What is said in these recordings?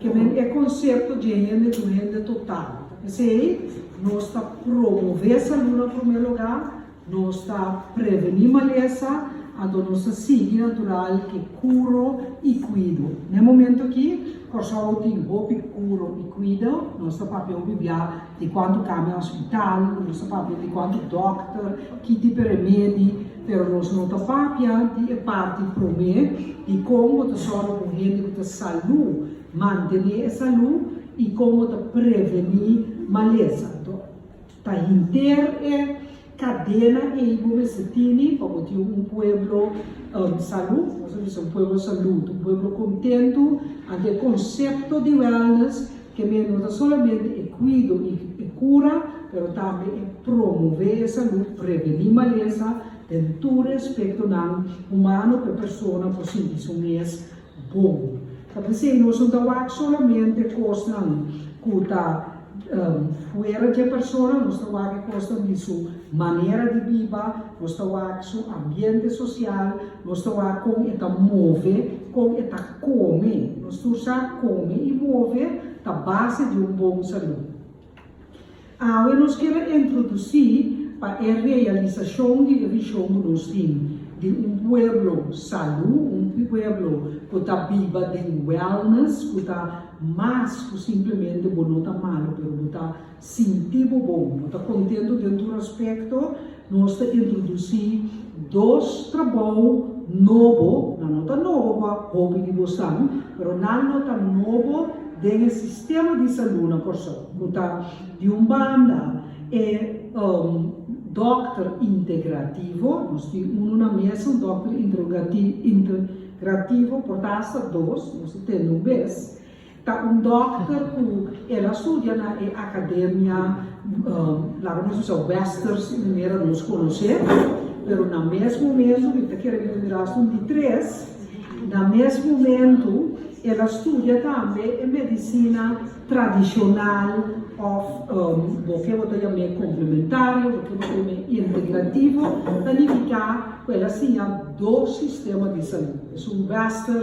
Kemén e konsepto dje hende duende total. P'esei, nos ta promové salú na promé lugá, nos ta prevení malesa, anto nos ta sigui natural ke kuro i kuido. N'e momentu akí, Kòrsou tin hopi kuro i kuido, nos ta papia hopi biá. Di kuantu kami hospital, nos ta papia di kuantu dòkter, ki tipe remedi, pero nos no ta papia di e parti promé di kon bo ta sòru ku un hende ku ta salú, mantené e salú i kon bo ta prevení malesa. Ta hinter e. Kadena ei bo mester tini pa bo tin un pueblo salú, nos ta bisa un pueblo salú, un pueblo kontentu, anto e konsepto di wellness ke men no ta solamente e kuido i e kura, pero tambe e promové e salú, prevení malesa den tur e aspektonan humano ku e persona por sinti su mes Bon. Ta p'esei nos no ta wak solamente kosnan ku ta fuera dje persona, nos ta wak e kosnan di su manera di biba, nos ta wak su ambiente sosial, nos ta wak kon e ta move, kon e ta kome. Nos tur sa kome i move ta base di un bon salú. Awe nos ke ta introdusí pa e realisashon di e vishon ku nos tin di un pueblo salú, un pueblo ku ta biba den wellness, ku ta mas ku simplemente bo no ta malu pero bo ta sinti bo bon, bo ta kontentu den tur aspekto. Nos ta introdusí dos trabou nobo, nan no ta nobo pa hopi di bosan, pero nan lo ta nobo den e sistema di salú na Kòrsou, ku ta, di un banda, e dòkter integrativo, nos tin unu na mesa, un dòkter integrativo, por ta asta dos, nos ta tende un bes, Ta un dòkter ku el a studia na e akademia, laga nos bisa Wester su manera nos konos'é, pero na mes momentu, mi ta kere bira mirá asun di tres, na mes momentu el a studia tambe e medisina tradishonal òf bo ke bo ta yam'é komplementario, bo ke bo ta yam'é integrativo, ta nifiká ku el a siña dos sistema di salú, esun Wester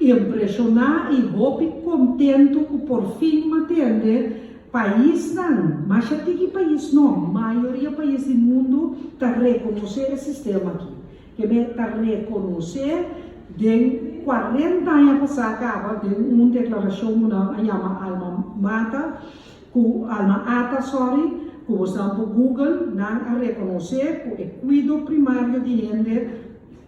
impresioná i hopi kontentu ku por fin mi a tende paisnan, masha tin ki pais no, mayoria pais di mundu ta rekonosé e sistema aki. Kemey ta rekonosé den kuarenta aña pasá kaba den un deklarashon ku nan a yama alma mata, ku alma ata, sòri, ku bosan por google, nan a rekonosé ku e kuido primario di hende,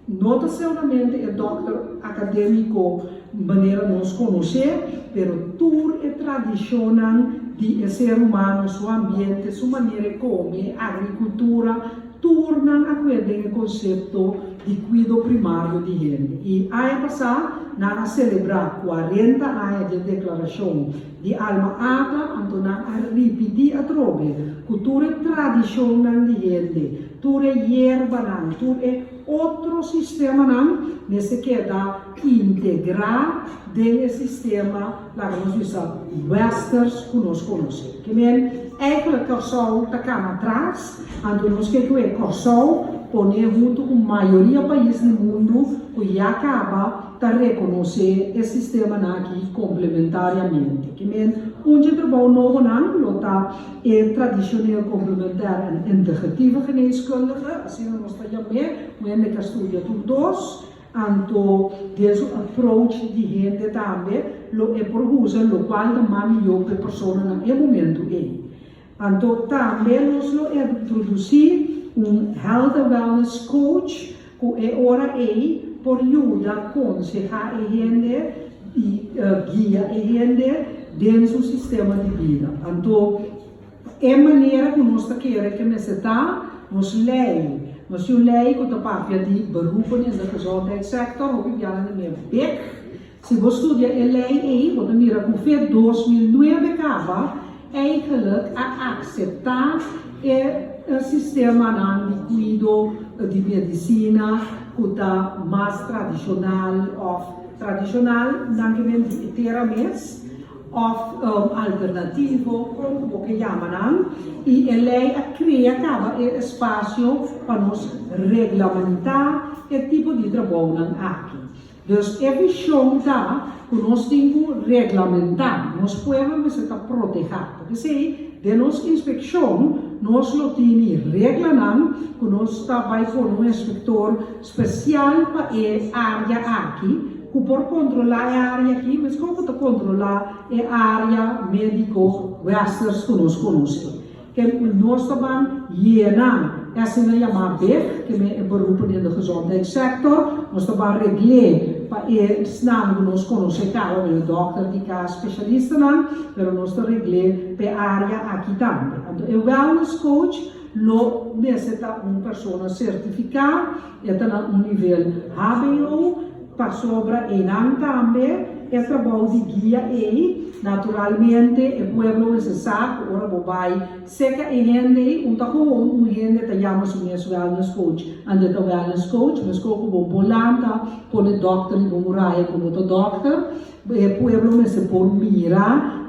No ta seulamente e dòkter akadémiko manera nos konos'é, pero tur e tradishonnan di e ser humano, su ambiente, su manera e kome, agrikultura, tur nan a kué den e konsepto di kuido primario di hende. I aña pasá nan a selebrá kuarenta aña di e deklarashon di Alma Ata, anto nan a ripití atrobe ku tur e tradishonnan di hende, Tur e yerbanan, tur e otro sistemanan mester keda integrá den e sistema, laga nos bisa, westers ku nos konosé. Ke men, eikelek Kòrsou ta kana tras, anto nos ke ku e Kòrsou pon'é huntu ku mayoria pais di mundu ku ya kaba ta rekonosé e sistemanan aki komplementariamente. Ke men, un dje trabou nobonan lo ta. E tradishoneel komplementair en integratieve geneeskundige, asina nos ta yam'é, ku hende ta studia tur dos, anto den su approach di hende tambe lo e por usa lokual ta mas mihó ku e persona na e momentu ei. Anto tambe nos lo introdusí un health and wellness coach Ku e ora ei por yuda konsehá e hende i guia e hende den su sistema di bida. Anto, e manera ku nos ta kere ke mester ta, nos lei, nos tin un lei ku ta papia di beroepen, e sa kusao, dek sector, hopi biaha nan ta mira bek, Si bo studia e lei ei, bo ta mira ku fe dos mil nuebe kaba eigelijk a akseptá e sistemanan di kuido di medisina ku ta mas tradishonal òf tradishonal nan ke men di e tera mes òf alternativo kon ku bo ke yama nan i e lei a krea kaba e espasio pa nos reglamentá e tipo di trabounan aki. Dus e bishon ta ku nos tin ku reglamentá nos pueblo mester ta protehá. Ta p'esei den nos inspekshon nos lo tini reglanan ku nos ta bai pone un inspektor spesial pa e área aki ku por kontrolá e área aki meskos ku ta kontrolá e área médiko Westers ku nos konosé. Ke ku nos ta ban yena esei nan yamá big, ke men e berupo den de gezondheidsector, nos ta ban regl'é pa esnan ku nos konos'é kaba men e dòkter di kas, spesialistanan, pero nos ta regl'é p'e área aki tambe. Anto e wellness coach lo mester ta un persona sertifiká. E ta na un nivel hbo pasobra eynan tambe e ta bou di guia ey. Naturalmente e pueblo wen se sa cu ora bo bay seca e hende ey un ta gewoon un hende ta yama su mes wellness coach and e ta wellness coach mescor cu bo bolanta pone dokter riba un raya cu no ta dokter. E pueblo mester por mira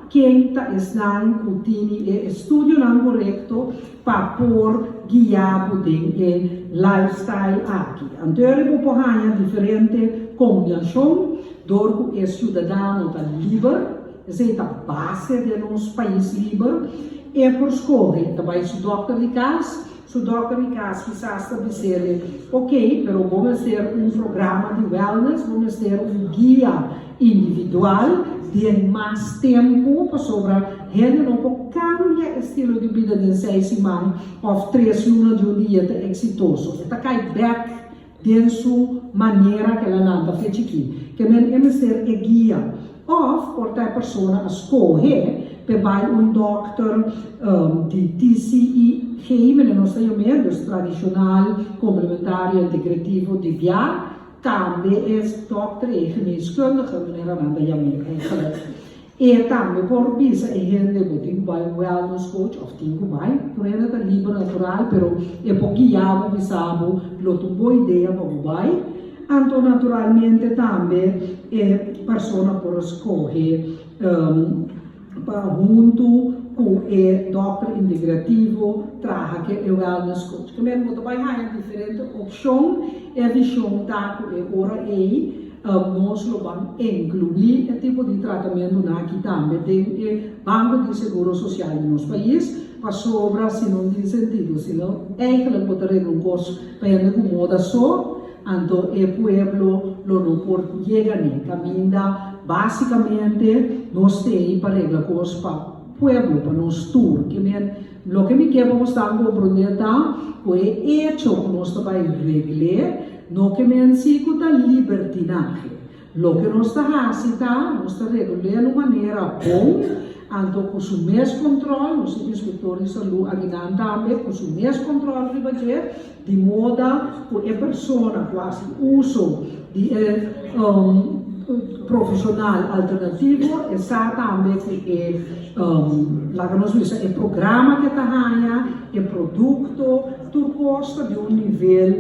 ken ta esnan cu tini e estudionan corecto pa por guia bo den e lifestyle aki. Anto eri bo por haña diferente kombiashon dor ku e siudadano ta liber, esei ta base den nos pais liber, e por skohe ta bai su dòkter di kas, su dòkter di kas kisas ta bis'el, ok, pero bo mester un programa di wellness, bo mester un guia. Individual, den mas tempu, pasobra hende no por cambia e stilo di bida den seis siman of tres luna di un dia ta exitoso. E ta cay bek den su manera cu el a lanta fe chiki. Ke men e mester e guia. Of por ta e persona a scohe pe bay un dokter di TCIG, mende nos ta yom'e, dus tradicional, complementario, integrativo, di bia. Tambe e stòp tre'é geneeskundige, meneer Ananda Yameen eigenlijk. E tambe por bisa e hende bo tin ku bai wellness coach òf tin ku bai, tur hende ta liber natural pero e por guia bo, bisa bo lo tur bo idea pa bo bai. Anto naturalmente tambe e persona por skohe. pa huntu ku e dòkter integrativo traha ku e eugel na skol. Cikamenti bo ta bai haña diferente opshon, e vishon ta ku e ora ei nos lo ban inkluí e tipo di tratamentunan aki tambe den e banko di seguro sosial di nos pais, pasobra si no tin sentido, si no, eigenlijk bo ta renta un kos pa hende ku moda so. Anto e pueblo lo no por yega n'e kaminda. Básikamente nos ta ei pa regla kos pa pueblo, pa nos tur. Ke men, loke mi ke pa boso tan komprondé ta ku e echo ku nos ta bai regl'é no ke men si ku ta libertinahe. Loke nos ta hasi ta nos ta regul'é na un manera bon, anto ku su mes kòntròl, nos tin instruktor di salú aginan tambe ku su mes kòntròl riba dje, di moda ku e persona ku hasi uso di e profeshonal alternativo e sa tambe ku e, laga nos bisa, e programa ku e ta haña, e produkto, tur kos ta di un nivel.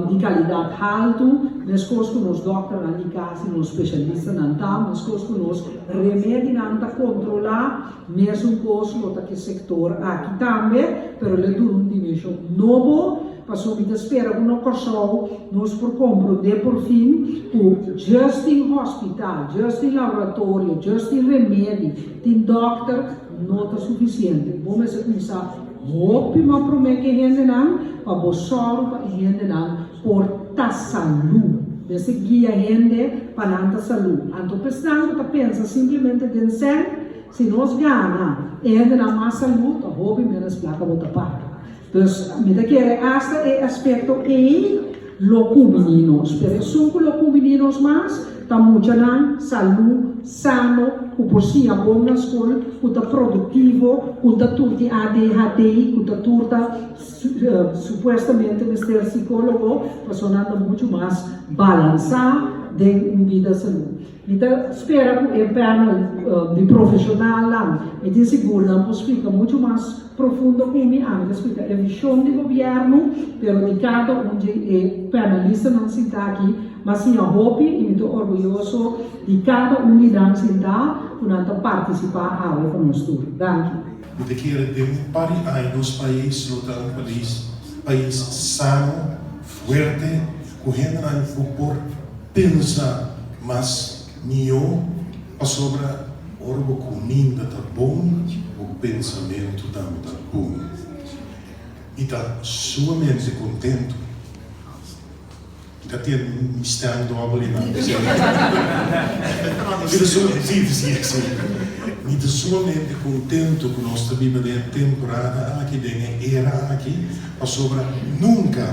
di kalidat haltu, meskos ku nos dòkternan di kas i nos spesialistanan ta, meskos ku nos remedinan ta kontrolá, mesunkos lo ta ki sektor aki tambe, pero lo duna un dimenshon nobo, pasobra mi ta spera ku na Kòrsou nos por komprondé porfin ku djis tin hòspital, djis tin laboratorio, djis tin remedi, tin dòkter, no ta sufisiente. Bo mester kuminsá. Hopi mas promé ke hendenan pa bo sòru pa e hendenan por ta salú. Mester guia hende pa nan ta salú. Anto pa esnan ku ta pensa simplemente den sèn, si nos gana e hendenan mas salú, ta hopi ménos plaka bo ta paga. Dus mi ta kere asta e aspekto ei. Lo cu mininos. Pero esun cu lo cu mininos mas ta muchanan salú, sano, cu por siña bon na scol, cu ta productivo, cu ta tur di adhd, cu ta tur ta supuestamente mester psicologo, pasobra nan ta mucho mas balansa den un vida salú. Mi ta spera ku e panel di profeshonalnan mi tin sigur nan por splika muchu mas profundo ku mi antes ku ta e vishon di gobièrnu, pero di kada un dje e panelistanan sinta aki mas tin a hopi i mi ta orguyoso di kada un di nan sinta ku nan ta partisipá awe ku nos tur. Danki. Mi ta kere den un par di aña nos pais lo ta un pais sano, Fuerte ku hendenan ku por pensa mas mihó, pasobra ora bo kuminda ta bon, bo pensamentu tambe ta bon i ta sumamente kontentu. I ka tin stem dòbel i nan kusai. Mi ta sumamente, si, si, si, si. Mi ta sumamente kontentu ku nos ta biba den e temporada aki, den e era aki. Pasobra nunka,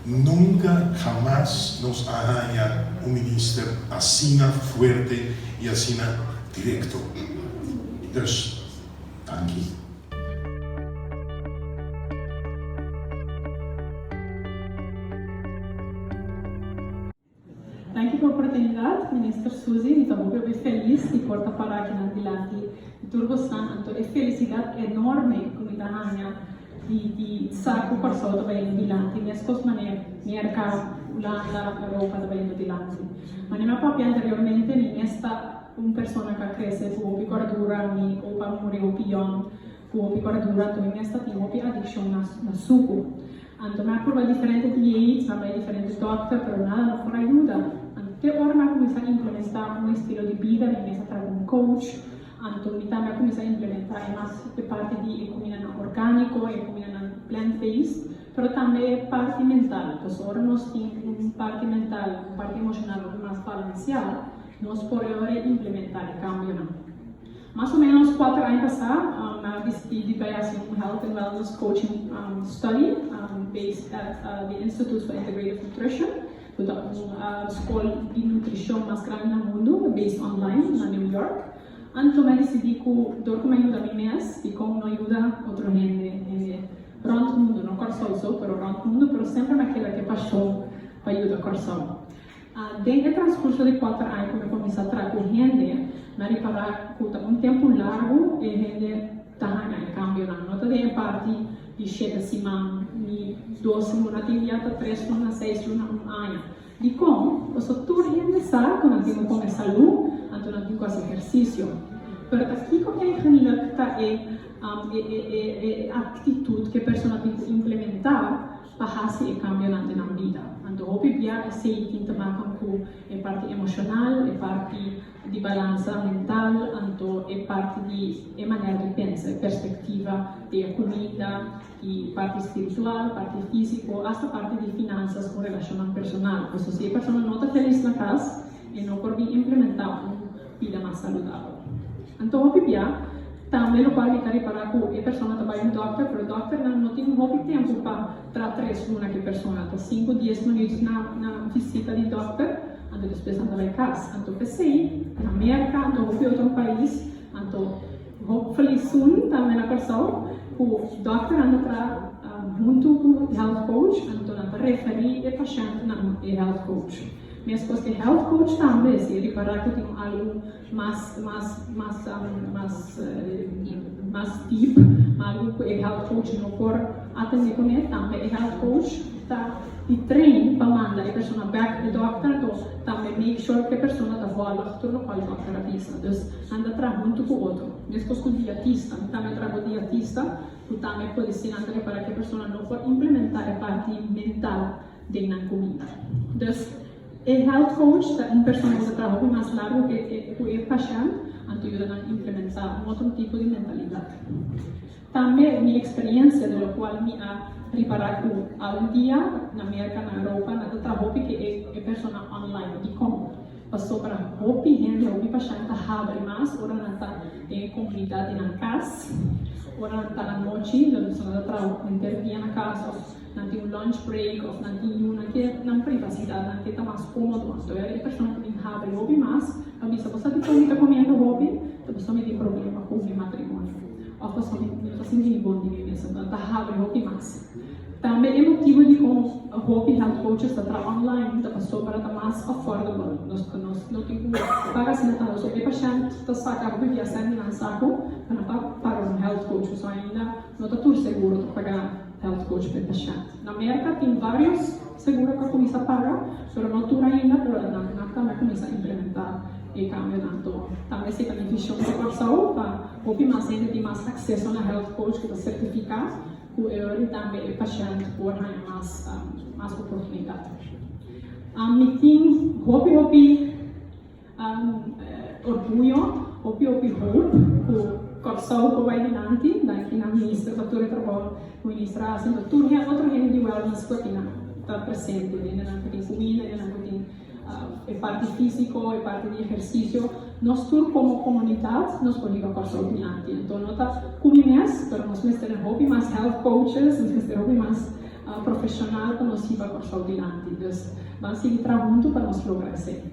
nunka hamas nos a haña un minister asina fuerte i asina direkto. Dus, danki. Danki pa oportunidat, Minister Suzy. Mi ta hopi hopi felis di por ta para akinan dilanti di tur bosan. Anto e felisidat enorme ku mi ta haña di di sa ku Kòrsou ta bañando dilanti meskos manera Merka, Ulanda, Europa ta bañando dilanti. Manera mi a papia anteriormente, mi mes ta un persona ku a krese ku hopi kòrdura, mi hopi a muri hopi yòn. Ku hopi bardura anto mi mes ta tin hopi adikshon na na suku. Anto mi a pruba diferente diét, mi a bai diferente dòkter pero nada no por a yuda. Anto te ora mi a kuminsá implementá un estilo di bida mi mes a traha ku un coach. Anto mi tambe a kuminsá implementá e mas e parti di e kumindanan orgániko, e kumindanan plant based, pero tambe e parti mental. Pasobra ora nos tin un parti mental, un parti emoshonal hopi mas balansiá nos por e ora implementá e kambionan. Mas o ménos kuater aña pasá mi a disití di bai hasi un Health and Wellness Coaching Study based at di Institute for Integrative Nutrition, ku ta un skol di nutrishon mas grandi na mundu, based online na New York. Anto mi a disidí ku dor ku mi a yuda mi mes, dikon no yuda otro hende, hende rònt mundu, no Kòrsou so, pero rònt mundu, pero semper mi a keda ku e pashon pa yuda Kòrsou. Den e transkurso di kuater aña ku mi kuminsá traha ku hende, mi a repará ku ta un tempu largu e hende ta haña e kambionan. No ta den e parti di shete siman, ni dos luna, tin di ata tres luna, seis luna, un aña. Dikon? Pasobra tur hende sa ku nan tin un bon e salú, anto nan tin ku hasi ehersisio. Pero ta kiko eigenlik ta e aktitut ku e persona tin ku implementá pa hasi e cambionan den nan bida. Anto hopi bia esey tin ta baton cu e parti emocional, e parti di balansa mental, anto e parti di e manera di pensa, e perspectiva di e cuminda, y parti spiritual, parti fisico, hasta parti di finansas cu relacionnan personal. Pasobra si e persona no ta felis na cas, e no por bin implementa un. bida mas saludabel. Anto hopi bia tambe lo por a mira ripará ku e persona ta bai un dòkter pero dòkternan no tin hopi tempu pa tra tres luna ku e persona ta sinku dies minuut na na visita di dòkter anto despues nan ta bai kas anto p'esei na Merka anto hopi otro pais anto hopefully soon tambe na Kòrsou ku dòkternan ta tra huntu ku health coach anto nan ta referi e pashèntnan e health coach. Meskos e health coach tambe si e ripará ku tin un algu mas mas mas mas mas deep, algu ku e health coach no por atendé kuné, tambe e health coach ta di train pa manda e persona back di dòkter, anto tambe make sure ku e persona ta vòlg tur lokual e dòkter a bisa. Dus nan ta traha huntu ku otro. Meskos ku diatista, mi tambe a traha ku diatista ku tambe a pudi sinan ta ripará ku e persona no por implementá e parti mental. den nan kumida. Dus e health coach ta un persona ku ta traha hopi mas largu ku e pashènt anto yuda nan implementá un otro tipo di mentalidat. Tambe mi eksperiensia di lokual mi a ripará ku algun dia na Merka, na Europa nan ta traha hopi ku e persona online. Dikon? Pasó para hopi hende, hopi pashènt ta habri mas ora nan ta den e komunidat di nan kas, ora nan ta anochi, lo nan ta traha enter dia na kas òf. nan tin un lunch break of nan tin yu nan ke nan privacidad nan ke ta mas comodo mas lo e persona cu tin habri hopi mas ta bisa boso tin con kita comiendo hopi ta boso mi tin problema cu mi matrimonio of boso mi no ta sinti mi bon di mi mes enton ta habri hopi mas tambe e motibo di con hopi health coaches ta traha online ta pasobra ta mas affordable nos nos no tin cu paga asina tanto so e pashent ta saca hopi biasen di nan sa cu paran pa paga un health coach cu so ainda no ta tur seguro ta paga. Health coach per pashènt. Na Merka tin varios seguro ku a kuminsá paga, pero no tur ainda, pero nan a tambe kuminsá implementá e kambionan to. Tambe si ta bendision pa Kòrsou pa hopi mas hende tin mas akseso na health coach ku ta sertifiká ku e oir i tambe e pashènt por haña mas mas oportunidat. Mi tin hopi hopi. An orguyo, hopi hopi hoop cu Corsow por bay dilanti, danki na Minister pa tur e Trabao cu Minister a hasi, tur he otro hende di Wellness cu a tin ta presente, hende nan cu tin cumida, hende nan cu tin e parti fisico, e parti di ehercicio, nos tur como comunidad nos por hiba Corsow dilanti, enton no ta cumi mes, pero nos mester den hopi mas health coaches, nos mester hopi mas profesional pa nos hiba Corsow dilanti, dus ban sigui traha hunto pa nos logra esey.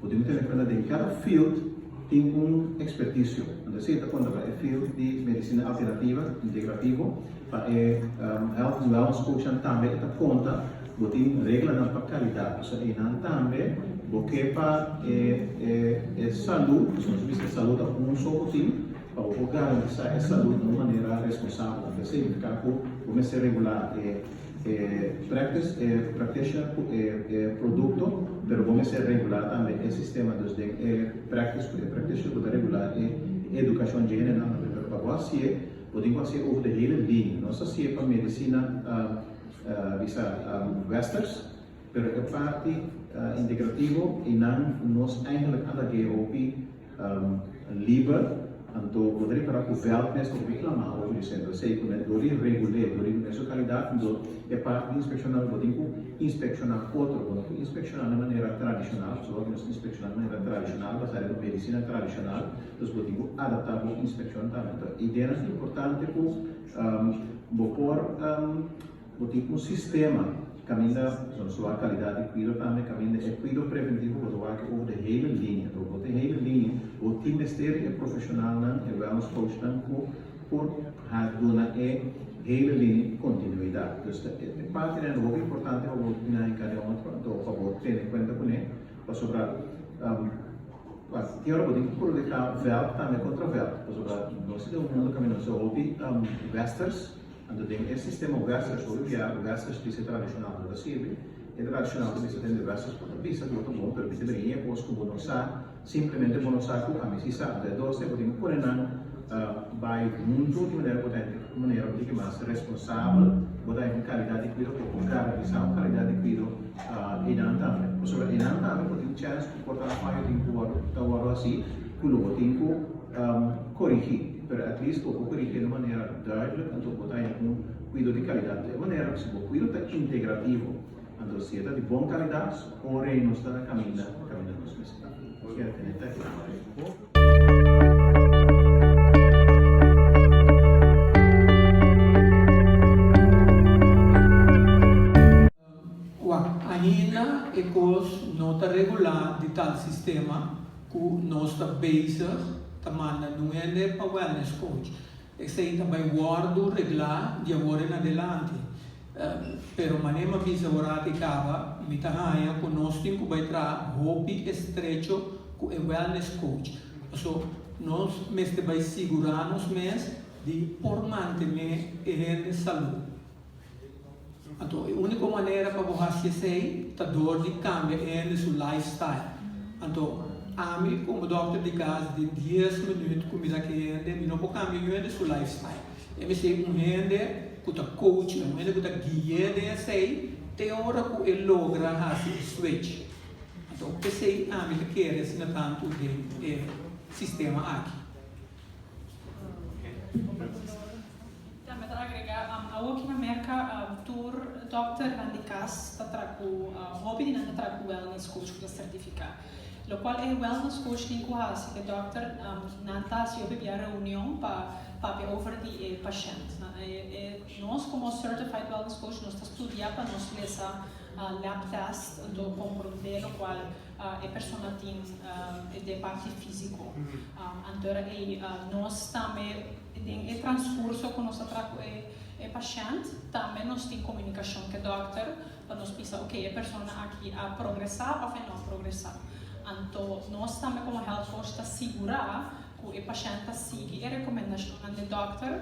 Bo tin ku tene kuenta den kada field tin un ekspertisio. Anto esei ta konta pa e field di medisina alternativa, integrativo, pa e health and wellness coachnan tambe e ta konta bo tin reglanan pa kalidat. Pasobra einan tambe bo ke pa e e salud, pasobra nos a bisa e salud ta un so ku tin, pa bo por garantisá e salud na un manera responsabel. Anto esei ta kaba ku bo mester regulá e. E practice e practitioner cu e e producto, pero bo mester regular tambe e sistema. Dus den e practice cu e practitioner bo ta regula e educacion dje hendenan tambe. Pero pa bo haci'e, bo tin cu haci'e over de hele liña. Nos ta haci'e pa medicina bisa westers, pero e parti integrativo y nan nos eigenlijk a lag'e hopi. Liber, anto bo ta rikordá ku vèlt mes por reklamá ora bo disèn. Ta sei ku na dor di regul'é, dor di mester su kalidat, anto e parti di inspekshoná nan bo tin ku inspekshon'á otro. Bo no por inspekshon'á na manera tradishonal, pasobra ku nos inspekshon'á na manera tradishonal basá riba medisina tradishonal, entonces bo tin ku adaptá bo inspekshon tambe. Toh ideanan ta importante ku bo por. Bo tin un sistema ki kaminda zona suá kalidat di kuido tambe kaminda e kuido preventivo bo ta wak over de hele linia. Dor bo ta hele linia bo tin mester di e profeshonalnan, e wellness coachnan ku por duna e hele linia kontinuidat. Dus ta e partenan ta hopi importante pa bo miná en kade momento anto pa bo tene kuenta kuné pasobra kualkier ora bo tin ku krudiká vèlk tambe kontra vèlk pasobra nos ta den un mundu kaminda nos ta hopi wèsters. Anto den e sistema un wester solo guia un wester spisa tradishonal ta ta sirbi, e tradishonal ta bisa den de westers ku ta bisa ku lo ta bon pero mester bini e kos ku bo no sa, simplemente bo no sa ku ami si sa. Entonces dos tin ku tin ku pone nan bai huntu di manera ku bo ta hende ku manera bo ta hende mas responsabel, bo ta hende ku kalidat di kuido ku por garantisá un kalidat di kuido einan tambe. Pasobra einan tambe ku tin chèns ku por ta haña fayo tin ku wòrdu ta wòrdu hasi ku lo bo tin ku korigí. Pero at least bo poco di hende manera duidelijk anto bo ta haya un cuido di calidad. Di e manera si bo cuido ta integrativo anto si e ta di bon calidad so ora e nos ta na caminda na caminda nos mes ta. Nos mira tene ta e hambre. Kua ainda e kos no ta regulá di tal sistema ku nos ta bezig ta manda nun hende pa wellness coach. Esei ta bai wòrdu reglá di awor en adelante. Pero mané m'a bisa ora aki kaba, mi ta haña ku nos tin ku bai traha hopi estrecho ku e wellness coach. Paso nos mester bai sigurá nos mes di por mantené e hende salú. Anto e úniko manera pa bo hasi esei ta dor di kambia e hende su lifestyle. Anto ami komo dòkter di kas di dies minüt ku mi ta ke hende, mi no por kambia un hende su lifestyle. E mester un hende ku ta kouch'é, un hende ku ta gui'é den esei te ora ku e logra hasi e switch. Anto esei ami ta kere asina tantu den e sistema aki. Tambe ta agrega, awoki na Merka tur dòkternan di kas ta traha ku, hopi di nan ta traha ku wellness coach ku ta sertifiká. Lokual e wellness coach tin ku hasi ku e dòkter nan ta hasi hopi bia reunion pa papia over di e pashènt. Nos komo certified wellness coach nos ta studiá pa nos lesa lab test, anto comprondé lokual. e persona tin e de parti físiko. Anto era ei nos tambe den e transkurso ku nos ta traha ku e pashènt tambe nos tin komunikashon ku e dòkter pa nos bisa oke e persona aki a progresá òf e no a progresá. Anto nos tambe komo hèlt koush ta sigurá cu e pashent ta sigui e recomendacionnan d'e dokter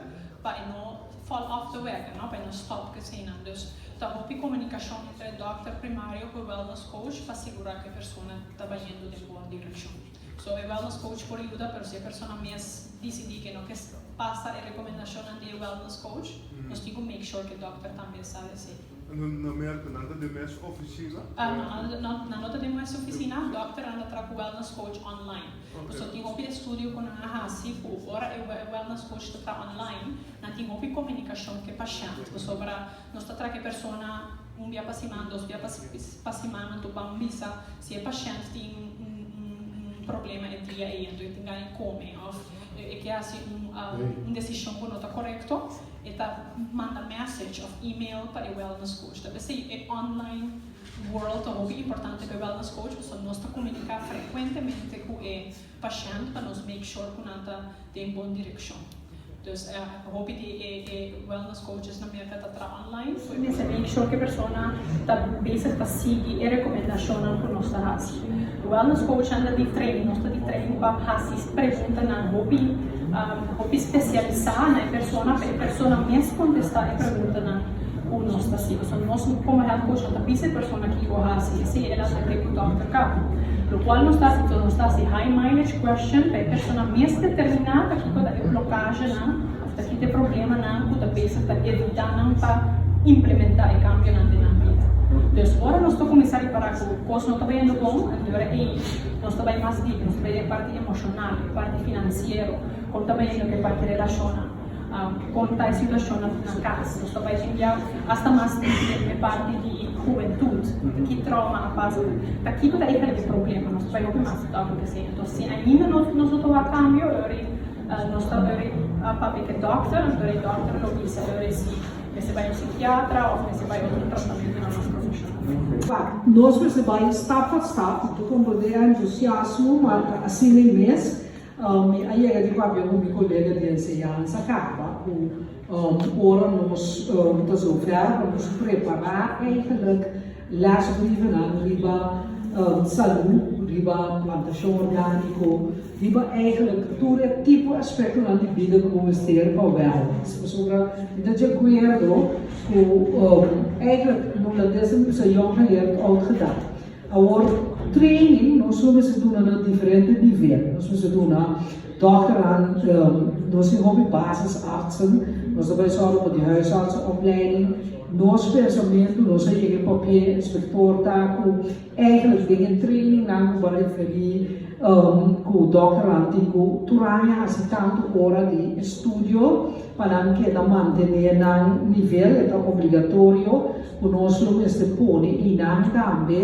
pa e no fall off de wega, pa e no stop cu eseinan. Dus ta hopi comunicacion entre e dokter primario cu e wellness coach pa sigura cu e persona ta bayendo den bon direccion. So e wellness coach por yuda, pero si e persona mes dicidi cu e no ke pasa e recomendacionnan di e wellness coach, nos tin cu make sure cu e dokter tambe sa di esey. Nan Merca nan ta den mes oficina? Nan no ta den mes oficina, dokter nan ta tra cu wellness coach online. So tin hopi estudio cu nan a haci cu ora e wellness coach ta tra online nan tin hopi comunicacion cu e pashent pasobra nos ta tra cu e persona un bia pa siman, dos bia pa siman nan ta ban bisa si e pashent tin un problema e dia ey, enton e tin gana e come of. E ke hasi un desishon ku no ta korekto, e ta manda message òf email pa e wellness coach. Tal bes ei e online world ta hopi importante pa e wellness coach, pasobra nos ta komuniká frekuentemente ku e pashènt pa nos make sure ku nan ta den bon direkshon. Dus hopi di e wellness coachesnan Merka ta traha. Lines y mester make sure cu e persona ta bezig pa sigui e recomendashonnan cu nos ta haci. Wellness coachnan ta di training, nos ta di training pa haci preguntanan hopi hopi specialisa na e persona pa e persona mes contesta e preguntanan cu nos ta haci. Pasobra nos como health coach no ta bisa e persona kico haci, esey el a tende cu doctor cabo. Locual nos ta haci cu nos ta haci high mileage question pa e persona mes determina ta kico ta e blocagenan. Ta kite problemanan ku ta bisa ta edutá nan pa implementá e kambionan den nan bida. Dus, ora nos ta kuminsá ripará ku kos no ta bai yendo bon, anto ora ei nos ta bai mas diep, nos ta bai den e parti emoshonal, e parti finansiero, kon ta bai yendo ku e parti relashonnan, kon ta e situashonnan na kas. Nos ta bai tin bia asta mas diep den e parti di hubentut, ki tròma a pasa, ta kiko ta e kaliba di problema nos ta bai hopi mas akontesé. Entonces, si ainda nos no ta wak kambio, e ora ei. Nos ta dori a papia te dòkter, nos dori dòkter lo bisa dori si mester bai un sikiatra òf mester bai otro tratamentu na nos profeshon. Klar, nos mester bai stap pa stap, mi ta konpond'é entusiasmo, mar ta asina mes. Mi a yega di papia ku mi kolega di enseñansa kaba ku ora nos ta zover pa nos prepará eigenlik lèsbrievennan riba salú, riba plantashon orgániko, Di bo eigenlijk tur e tipo aspektonan di bida ku bo mester pa wèl? Si pasobra mi ta djakuerdo ku eigenlijk bo la desha mi usa yong geleerd oud gedag. Awor training nos lo mester duna na diferente nivel. Nos mester duna dòkternan nos tin hopi basisartsen, nos ta bai sòru pa di huisartsenopleiding, nos pensamentu nos a yega papia inspektor ta ku Eigenlijk den e trainingnan ku bo a referí ku dòkternan tin ku tur aña hasi tantu ora di estudio pa nan keda mantené nan nivel, e ta obligatorio ku nos lo mester pone i nan tambe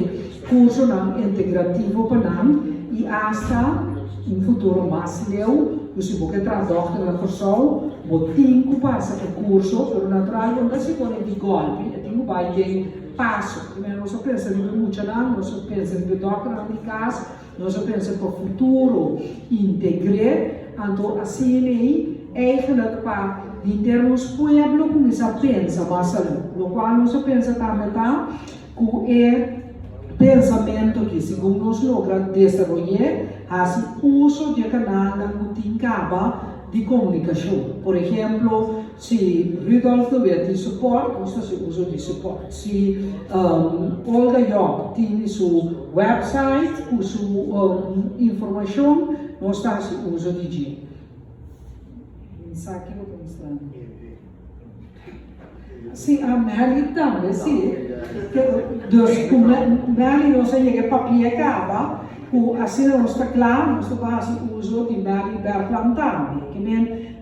kursonan integrativo pa nan i asta un futuro mas leu ku si bo ke traha dòkter na Kòrsou bo tin ku pasa e kurso pero natural bo no ta hasikò nei di gòlpe, e tin ku bai den. Paso, Primero nos a pensa riba e muchanan, nos a pensa riba e dòkternan di kas, nos a pensa pa futuro integré, anto así lei eigenlik pa di henter nos pueblo kuminsá pensa mas salú. Lokual nos a pensa tambe ta ku e pensamentu aki, segun nos logra desaroy'é, hasi uso di e kanalnan ku tin kaba di komunikashon. Por ehemplo. Si Rudolf no bia tin support, nos ta haci uso di support. Si Olga Job tin su website cu su informacion, nos ta haci uso di dje. Esaki bo ta mustra mi. Si Amelie tambe si. Dus cu Melie nos a yega e papia caba, cu asina nos ta cla, nos ta por haci uso di Melie Bertland tambe.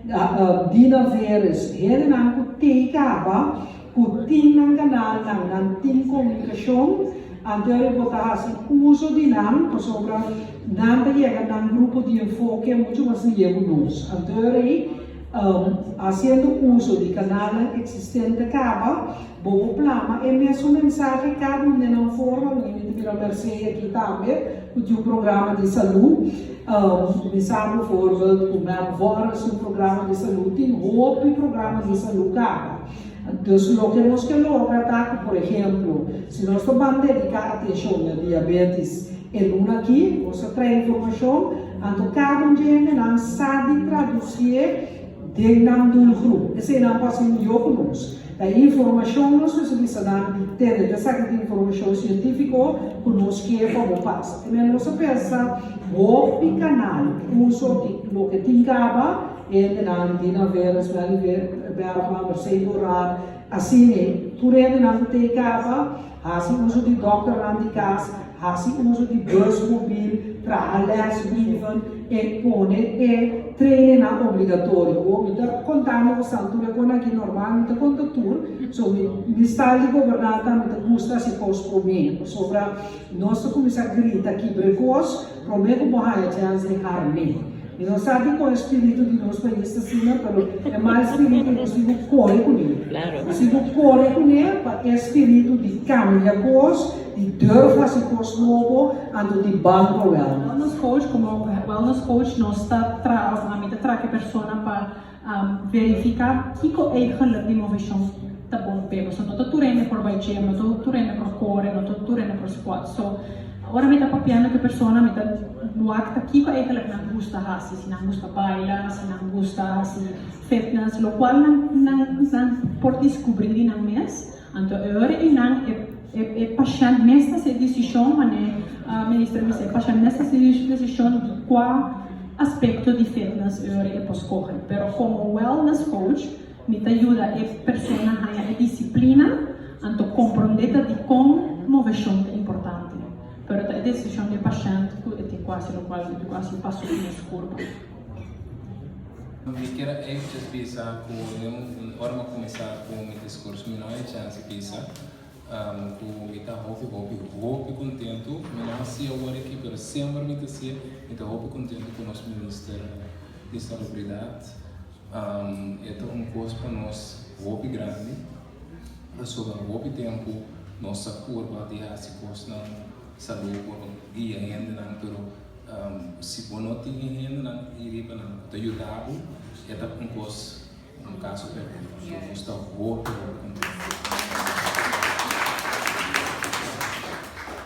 Dina Veres, Hendenan ku tin kaba, ku tin nan kanalnan, nan tin komunikashon, anterior e por ta hasi uso di nan, pasobra nan ta yega nan grupo di enfoke muchu mas lia ku nos. Anterior ei, hasiendo uso di kanalnan eksistente kaba, Bo bo plama e mesun mensahe kada un den nan forma, mi ta bira Mercedes aki tambe ku tin un programa di salu, mi sa bo voorbeeld ku melk worrel su programa di salu tin hopi programa di salu kaba. Dus loke nos ke logra ta ku por ehemplo si nos ta ban dediká atenshon na diabetis e luna aki, nos ta trae informashon, anto kada un dje hende nan sa di tradusie, Den nan doelgroep. Esenan pas tin yoco nos ta informacion nos mester bisa nan di tene ta esaki ta informacion cientifico cu nos kier pa bo pas. Enmei nos ta pensa hopi di canal uso di loke tin caba hende nan di na Vera, Smelly Bergman, Mercedes Doran, asina puru hende nan cu tey caba. Hasi uso di dòkternan di kas, hasi uso di bus mobil, traha lèsbrieven en pone e trainingnan obligatorio. Bo mi ta konta mi ku Santu na kon aki normal mi ta konta tur, so mi mi stal di goberná ta mi ta gusta hasi kos promé. Pasobra nos ta kuminsá grita kibrekos Promé ku bo haya chèns di hara mi. Mi no sa dikon e spiritu di Dios ta yis asina, pero e mal spiritu nos tin ku kore kuné. Nos tin ku kore kuné pa e spiritu di kambia kos, di durf hasi kos nobo, anto di banko wèl. Wellness coach, komo wellness coach nos ta traba, mi ta traka e persona pa. Verifica kico ei geluk di movetions ta bon p'e. Paso no ta tur hende por bai gym, no ta tur hende por core, no ta tur hende por squat. So, ora mi ta papia na ki persona mi ta wak kico ei geluk nan gusta haci, si nan gusta baila, si nan gusta haci fitness, locual nan por descubri di nan mes. Anto e ora eynan e pashènt mes ta haci decision, manera Minister mi bisa, e pashènt mes ta haci decision di cua aspecto di fitness e ora e por scoge. Pero como wellness coach mi ta yuda e persona haya e disciplina, anto comprende ta dicon movecion ta importante. Pero ta e decision di e pashènt cu e tin cu haci, locual e tin cu haci paso uno scurba. Mi kier a epichas bisa cu den un ora mi a cuminsa cu mi discurso mi no hay chance bisa cu mi ta hopi hopi hopi contento, mi no hacia awor aki pero sember mi ta hacia, mi ta hopi contento cu nos Minister di Salubridad, e ta un cos pa nos hopi grandi pasobra hopi tempo nos a curba di haci cosnan salud por guia hendenan pero. Si bo no tin e hendenan ei riba nan ku ta yuda bo, e ta un kos, un kaso perdido. Bo gusta hopi hopi ku nan ta yuda.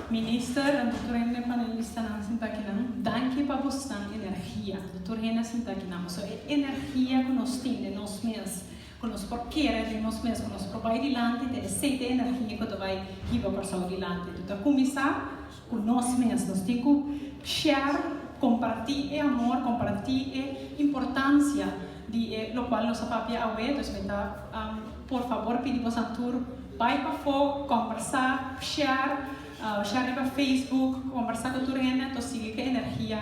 Minister, Doctor Hender, panelistanan sinta akinan, danki pa bosnan energia. Doctor Hender sinta akinan, pasobra e energia ku nos tin den nos mes, ku nos por kere den nos mes, ku nos por bai dilanti, ta esei ta e energia ku ta bai hiba Kòrsou dilanti. Bo ta kuminsá Ku nos mes, nos tin ku share, kompartí e amor, kompartí e importansia di e lokual nos a papia awe. Dus mi ta por fabor pidi boso tur, bai pafó, kombersá, share, share riba facebook, kombersá ku tur hende, anto sigui ku e energia.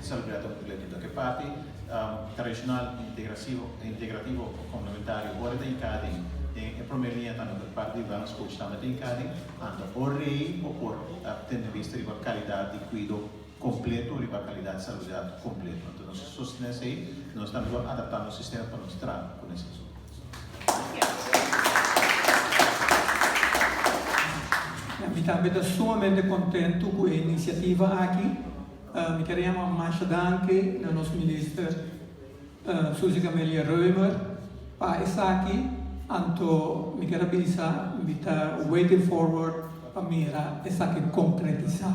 Salubridad ta un complemento. Cu e parti tradicional y integrativo o complementario ora ta hincá den e prome liña tambe cu e parti di wellness coach tambe ta hincá den, anto por rei o por tene bista riba calidad di cuido completo riba calidad di salubridad completo. Anto nos ta sostene esey y nos tambe lo adaptá nos sistema pa nos traha cu esey. Mi tambe ta sumamente contento cu e iniciativa aki. Mi quier yama un masha danki na nos Minister Susie Camelia Reumer pa esaki, anto mi quier a bisa mi ta waiting forward pa mira esaki concretisa.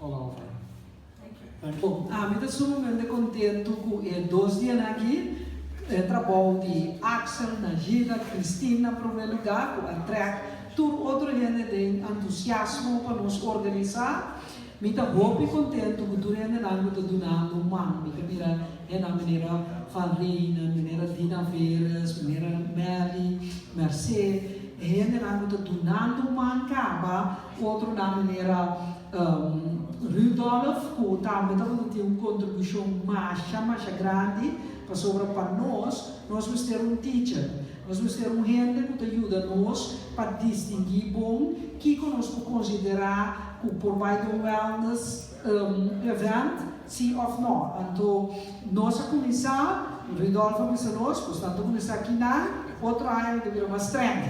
All over. Bo, ami ta sumamente kontentu ku e dos dianan aki, e trabou di Axel, Najida, Christine na promé lugá, ku a trèk tur otro hende den entusiasmo pa nos organisá. Mi ta hopi kontentu ku tur hendenan ku ta dunando un man. Mi ta mira hennan minera Van Reenen, minera Dina Veres, minera Mary, Mercé, e hendenan ku ta dunando un man kaba. Otronan manera Rudolf cu tambe ta por ta tin un contribucion masha masha grandi, pasobra pa nos, nos mester un teacher, nos mester un hende cu ta yuda nos pa distingui bon kico nos por considera cu por bay den un wellness, Un event si of no. Anto nos a kuminsá, Ridolf a bisa nos, nos tantu kuminsá aki nan, otro aña lo bira mas strèng.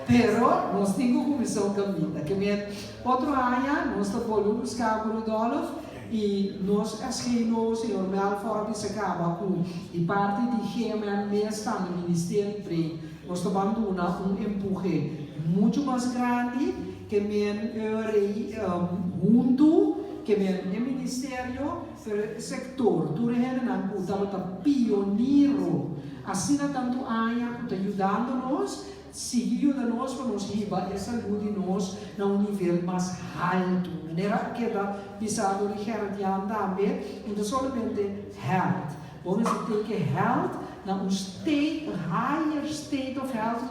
Pero nos tin ku kuminsá un kaminda. Kemen otro aña nos ta bolbe buskaba ku Ridolf i nos SGI nobo señor Melfort a bisa kaba ku di parti di GMM mes tambe Ministeri Breed nos ta banduna un empuhe muchu mas grandi. Kemen rei huntu, kemen e ministerio, pero e sektor, tur e hendenan ku tabata pioniro asina tantu aña ku ta yudando nos, sigui yuda nos pa nos hiba e salud di nos na un nivel mas haltu. Manera a keda bisa dor di Gerrit Jan tambe, no ta solamente health, bo mester teken health na un state, higher state of health,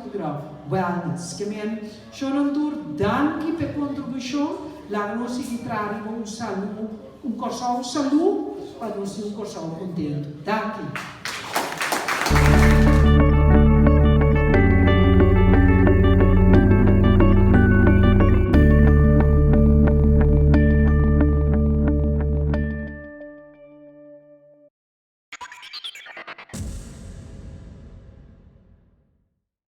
wellness, kemen Shonnan tur danki p'e kontribushon. Laga nos sigui traha riba un salu, un Kòrsou salú pa nos tin un Kòrsou kontentu. Danki.